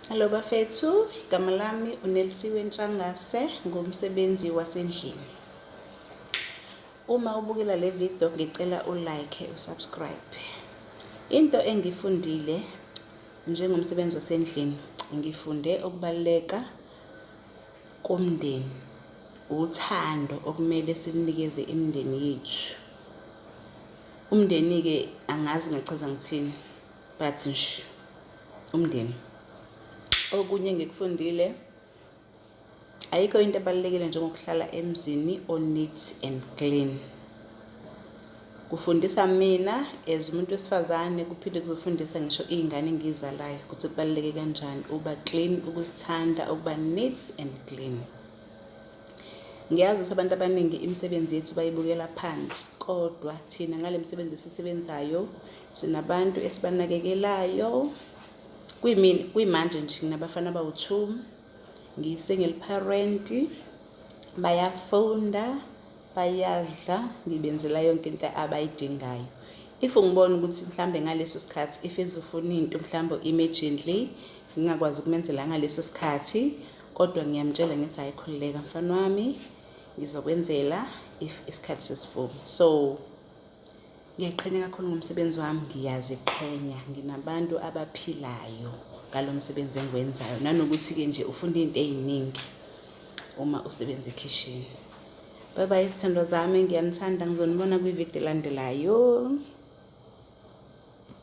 Hello bafethu, igama lami uNelisiwe Ntshangase ngumsebenzi wasendlini. Uma ubukela le video ngicela ulike usubscribe. Into engifundile njengomsebenzi wasendlini ngifunde ukubaluleka komndeni, uthando okumele silunikeze imindeni yethu. Umndeni-ke angazi ngachaza ngithini. but nsh umndeni okunye engikufundile ayikho into ebalulekile njengokuhlala emzini oneat and clean kufundisa mina as umuntu wesifazane kuphinde kuzofundisa ngisho iy'ngane engiyizalayo ukuthi kubaluleke kanjani ukuba clean ukusithanda ukuba neat and clean ngiyazi ukuthi abantu abaningi imisebenzi yethu bayibukela phansi kodwa thina ngale misebenzi esisebenzayo Sinabantu esibanakekelayo kwimini kwimanje nje nginabafana abawu-two ngiyi-single parent bayafunda bayadla ngibenzela yonke into abayidingayo if ngibona ukuthi mhlambe ngaleso sikhathi if ezofuna into mhlambe immediately ngingakwazi ukumenzela ngaleso sikhathi kodwa ngiyamtshela ngithi hayi khululeka mfana wami ngizokwenzela if isikhathi sesivuma so Ngiyayiqhenya kakhulu ngomsebenzi wami, ngiyaziqhenya nginabantu abaphilayo ngalo msebenzi engiwenzayo nanokuthi-ke nje ufunda izinto ey'ningi uma usebenza ekhishini. Bye bye izithandwa zami, ngiyanithanda ngizonibona kwividiyo elandelayo.